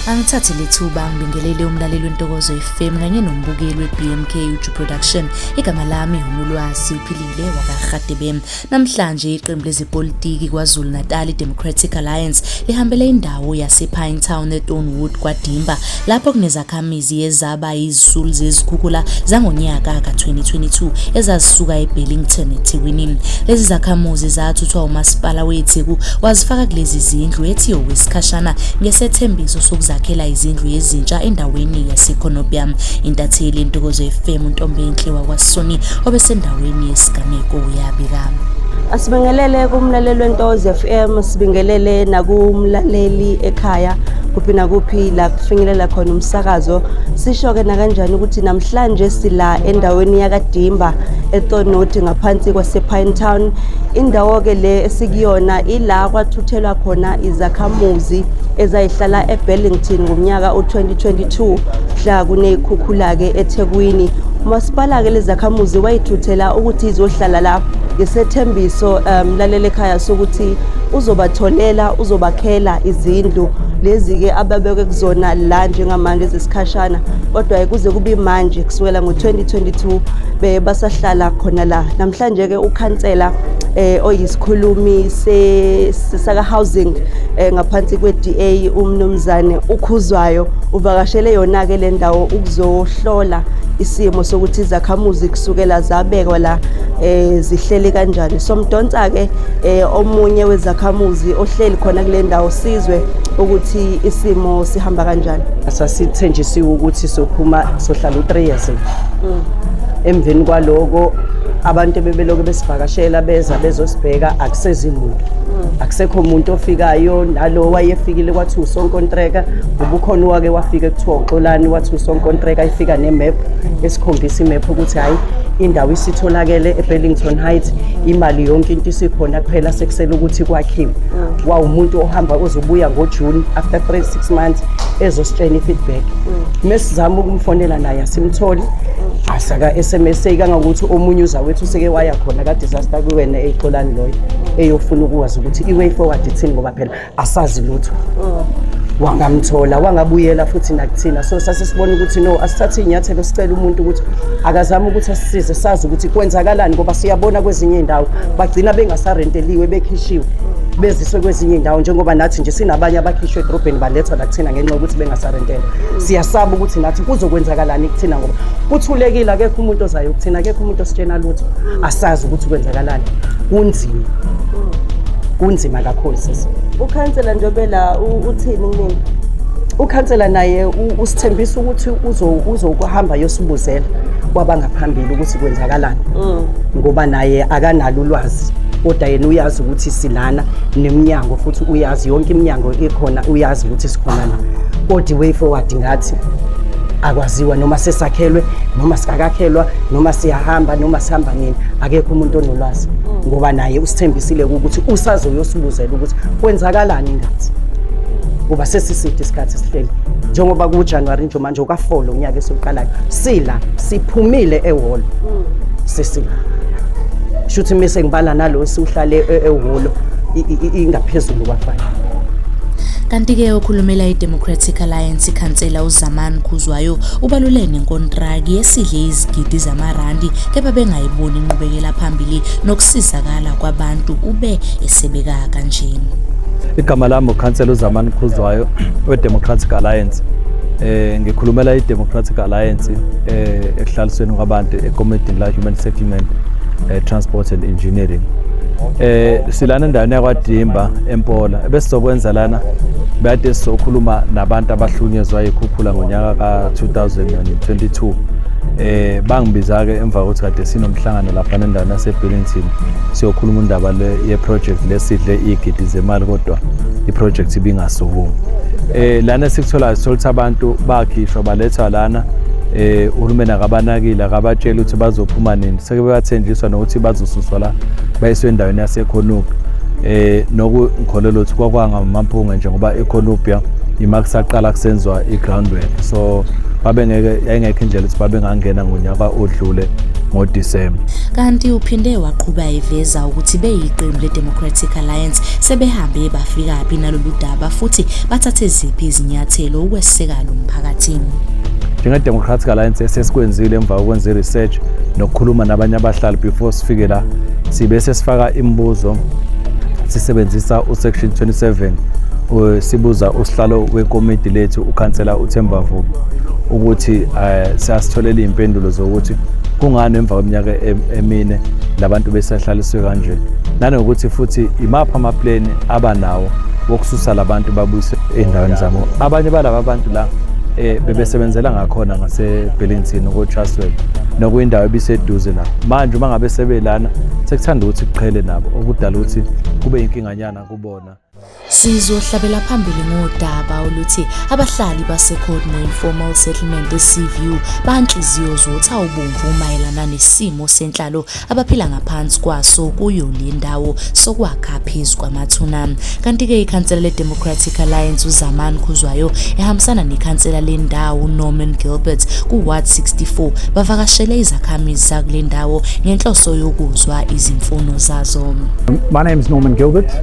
Angithathe lethuba ngibingelele umlaleli wentokozo FM kanye nombukeli weBMK Uju Production. Igama lami uNolwazi uphilile wakaRhadebe. Namhlanje iqembu lezepolitiki kwaZulu Natal Democratic Alliance lihambele indawo yasePine Town eTonewood kwaDimba lapho kunezakha Izakhamizi ezaba yizisulu zezikhukhula zangonyaka ka-2022 ezazisuka eBellington eThekwini. Lezi zakhamuzi zathuthwa uMasipala weTheku wazifaka kulezi zindlu ethi okwesikhashana ngesethembiso sokuzakhela izindlu ezintsha endaweni yaseKhonobya. Intatheli Ntokozo FM uNtombenhle wakwaSoni obesendaweni yesigameko uyabika. Asibingelele kumlaleli weNtokozo FM, sibingelele nakumlaleli ekhaya kuphi nakuphi la finyelela khona umsakazo sisho-ke nakanjani ukuthi namhlanje sila endaweni yakadimba etonoti ngaphansi kwasepine town indawo-ke le esikuyona ila kwathuthelwa khona izakhamuzi ezayihlala eburlington ngomnyaka u-2022 mhla kuneyikhukhula-ke ethekwini umasipala-ke lezakhamuzi wayithuthela ukuthi izohlala la ngesethembiso um laleli ekhaya sokuthi uzobatholela uzobakhela izindlu lezi-ke ababeke kuzona la njengamanje zesikhashana kodwa-ke kuze kube manje kusukela ngo-2022 beye basahlala khona la namhlanje-ke ukhansela eh oyisikhulumi sesaka housing eh, ngaphansi kweDA umnumzane ukhuzwayo uvakashele yona ke le ndawo ukuzohlola isimo sokuthi izakhamuzi kusukela zabekwa la eh zihlele kanjani somdonsa ke eh omunye wezakhamuzi ohleli khona kule ndawo sizwe ukuthi isimo sihamba kanjani sasithenjisiwe ukuthi sophuma sohlala u-3 years mm. emveni kwaloko abantu ebebeloke besivakashela beza bezosibheka akusezimuntu mm. akusekho umuntu ofikayo nalo wayefikile kwathi usonkontreka ubukhona wake wafika kuthiwa uxolani wathi usonkontreka ifika nemap esikhombisa imap ukuthi hhayi indawo isitholakele ebellington height imali yonke into isikhona kuphela sekusele ukuthi kwakhiwe mm. wawumuntu ohamba ozobuya ngojuni after 3 6 months ezositshena i-feedback mm. mesizama ukumfonela naye asimtholi mm. asaka-sms kangangokuthi omunye uzawethu useke waya khona ka-disaster kwiwena eyixolani loyo eyofuna ukwazi ukuthi i-way forward ithini ngoba phela asazi lutho wangamthola wangabuyela futhi nakuthina so sase sibona ukuthi no asithathe iy'nyathelo sicela umuntu ukuthi akazame ukuthi asisize sazi ukuthi kwenzakalani ngoba siyabona kwezinye iy'ndawo bagcina bengasarenteliwe bekhishiwe beziswe kwezinye iy'ndawo njengoba nathi nje sinabanye abakhishwe edorobheni balethwa nakuthina ngenxa yokuthi bengasarentela siyasaba ukuthi nathi kuzokwenzakalani kuthina ngoba kuthulekile akekho umuntu ozayo kuthina akekho umuntu ositshena lutho asazi ukuthi kwenzakalani kunzima kunzima kakhulu sisi ukhansela njengobe la uthini kumina ukhansela naye usithembisa ukuthi uzokuhamba yosibuzela kwabangaphambili ukuthi kwenzakalani mm. ngoba naye akanalo ulwazi kodwa yena uyazi ukuthi silana nemnyango futhi uyazi yonke iminyango ekhona uyazi ukuthi sikhona la kodwa way forward ngathi akwaziwa noma sesakhelwe noma sikakakhelwa noma siyahamba noma sihamba nini akekho umuntu onolwazi mm. ngoba naye usithembisile ukuthi usazoyosibuzela ukuthi kwenzakalani ngathi kuba sesiside isikhathi sihleli njengoba kujanuwari nje manje ukafolo unyaka esiwuqalayo sila siphumile ehholo sisila sho ukuthi mise ngibala nalo siwuhlale e-, ehholo ingaphezulu kwafana kanti-ke okhulumela i-democratic alliance ikhansela uzamani khuzwayo ubalule nenkontraki yesidle izigidi zamarandi kepha bengayiboni inqubekela phambili nokusizakala kwabantu ube esebeka kanjena igama lami ukhansela uzamani khuzwayo wedemocratic alliance eh ngikhulumela idemocratic alliance eh ekuhlalisweni kwabantu ekomidini la human settlement eh, transport and engineering eh silana endaweni yakwadimba empola ebesizokwenza lana bade sizokhuluma nabantu abahlunyezwa yikhuphula ngonyaka ka-2022 eh bangibiza ke emva kokuthi kade sinomhlangano lapha endaweni yaseBillington siyokhuluma indaba le yeproject lesidle igidi zemali kodwa iproject ibingasukumi eh lana sikutholayo sithola abantu bakhishwa balethwa lana eh uhulumeni akabanakile akabatshela ukuthi bazophuma nini seke bebathenjiswa nokuthi bazosuswa la bayiswe endaweni yaseKhonupi eh noku ngikholelwa ukuthi kwakwanga mampunge njengoba eKhonupia imakusaqala kusenziwa igroundwork so babengeke yayingekho indlela ukuthi babengangena ngonyaka odlule ngoDisemba. Kanti uphinde waqhuba eveza ukuthi beyiqembu leDemocratic Alliance sebehambe bafikaphi nalolu daba futhi bathathe ziphi izinyathelo ukweseka lo mphakathi. NjengeDemocratic Alliance esesikwenzile emva kokwenza i-research nokukhuluma nabanye abahlali before sifike la sibe sesifaka imibuzo sisebenzisa uSection 27 sibuza usihlalo wekomiti lethu ukhansela uThemba Vubu ukuthi eh, siyasitholela iy'mpendulo zokuthi kungani emva kweminyaka emine labantu besahlaliswe kanje nanokuthi futhi imaphi amapleni abanawo wokususa labantu babuyise ey'ndaweni zabo abanye balaba bantu la um bebesebenzela ngakhona ngasebellington kotraswell nokuyindawo ebiseduze la manje uma ngabe sebelana sekuthanda ukuthi kuqhele nabo okudala ukuthi kube yinkinganyana kubona Sizohlabela phambili ngodaba oluthi abahlali baseCodmo Informal Settlement eSeaview banhliziyo zotha ubomvu mayelana nesimo senhlalo abaphila ngaphansi kwaso kuyo le ndawo sokwakha phezu kwamathuna. Kanti-ke ikhansela le-Democratic Alliance uZamani Khuzwayo ehambisana nekhansela lendawo uNorman Gilbert ku-Ward 64 bavakashele izakhamizi zakule ndawo ngenhloso yokuzwa izimfuno zazo. My name is Norman Gilbert.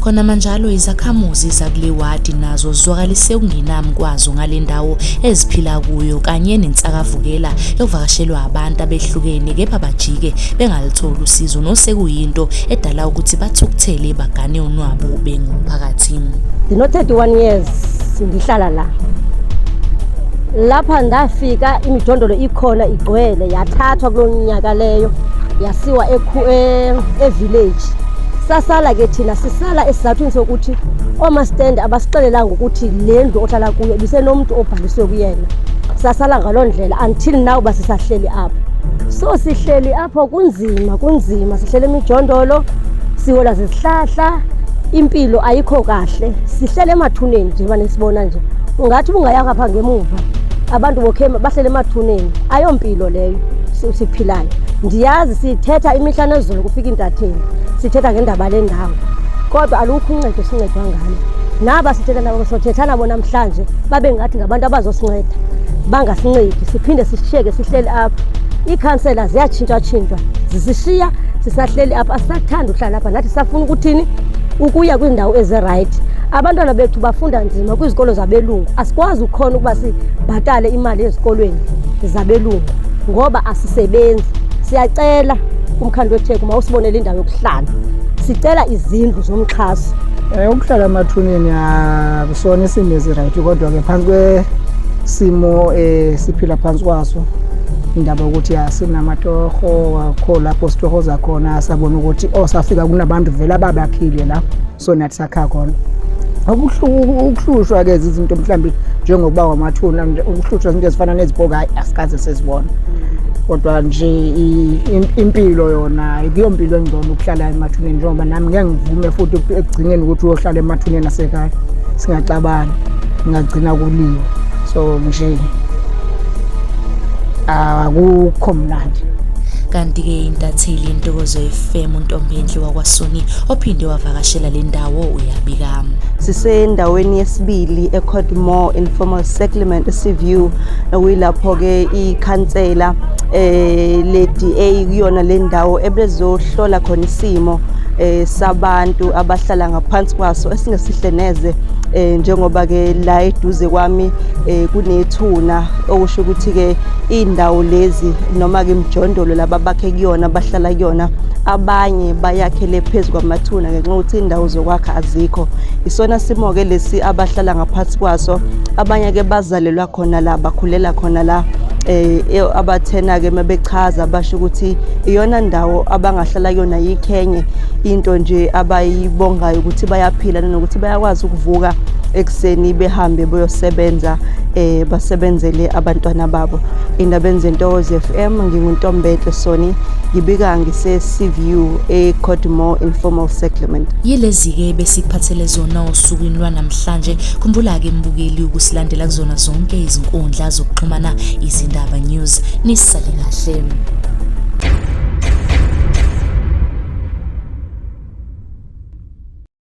Khonamanjalo izakhamuzi zakule wadi nazo zizwakalise ukungenami kwazo ngale ndawo eziphila kuyo kanye nensakavukela yokuvakashelwa abantu abehlukene kepha bajike bengalutholi usizo nosekuyinto edala ukuthi bathukuthele bagane unwabu bengumphakathi. Ndino 31 years ngihlala la. Lapha ndafika imijondolo ikhona igcwele yathathwa kulonyaka leyo yasiwa e, e village sasala ke thina sisala esizathwini sokuthi oomastende abasixelelanga ukuthi le ndlu ohlala kuyo ibisenomntu obhaliswe kuyena sasala ngaloo ndlela until now uba sisahleli apho so sihleli apho kunzima kunzima sihleli emijondolo siwola zizihlahla impilo ayikho kahle sihlele emathuneni nje mane sibona nje ungathi ubungayanga pha ngemuva abantu bokhema bahlele emathuneni ayompilo leyo Suthi Philani, ndiyazi sithetha imihla nezulu kufika intatheli, sithetha ngendaba lendawo. Kodwa alukho uncedo sincedwa ngalo. Naba sithetha nabo sothetha nabo namhlanje babe ngathi ngabantu abazosinceda. Bangasincedi siphinde sishiyeke sihleli apha. Iikhansela ziyatshintshatshintshwa zisishiya sisahleli apha asisathandi uhlala apha nathi safuna ukuthini ukuya kwiindawo ezirayithi abantwana bethu bafunda nzima kwizikolo zabelungu asikwazi ukhona ukuba sibhatale imali ezikolweni zabelungu ngoba asisebenzi. Siyacela kumkhandlu weTheku mawusibonele indawo yokuhlala. Sicela izindlu zomxhaso. Eh ukuhlala emathuneni akusona isimo eziright kodwa ke phansi kwesimo eh siphila phansi kwaso indaba ukuthi asinamatoho akho lapho sitohoza khona sabona ukuthi osafika oh, kunabantu vele ababakhile la so nathi sakha khona ukuhlushwa-ke izinto mhlawumbe njengokuba wamathuna ukuhlushwa izinto ezifana nezibhoka hayi asikaze sezibona kodwa nje impilo yona kuyo mpilo engcono ukuhlala emathuneni njengoba nami ngeke ngivume futhi ekugcineni ukuthi uyohlala emathuneni asekhaya singaxabani ngingagcina kuliwe so nje akukho mnandi kanti-ke intatheli yentokozo FM uNtombendle wakwaSuni ophinde wavakashela le ndawo uyabika. Sisendaweni yesibili eCodmore Informal Settlement eSeaview okuyilapho ke ikhansela eh le DA kuyona le ndawo ebezohlola khona isimo eh sabantu abahlala ngaphansi kwaso esingesihle neze eh njengoba ke la eduze kwami eh kunethuna okusho ukuthi ke iy'ndawo lezi noma-ke imijondolo laba bakhe kuyona bahlala kuyona abanye bayakhele phezu kwamathuna ngenxa yokuthi indawo zokwakha azikho isona simo-ke lesi abahlala ngaphansi kwaso abanye-ke bazalelwa khona la bakhulela khona la eh e, abathena ke mabechaza basho ukuthi iyona ndawo abangahlala kuyona yikhenye into nje abayibongayo ukuthi bayaphila nanokuthi bayakwazi ukuvuka ekuseni behambe boyosebenza eh basebenzele abantwana babo indaba enze Ntokozo FM nginguntombetle Soni ngibika ngise CVU e Codmore Informal Settlement yilezi ke besikuphathele zona osukwini lwanamhlanje khumbula ke mbukeli ukusilandela kuzona zonke izinkundla zokuxhumana izindaba news nisale kahle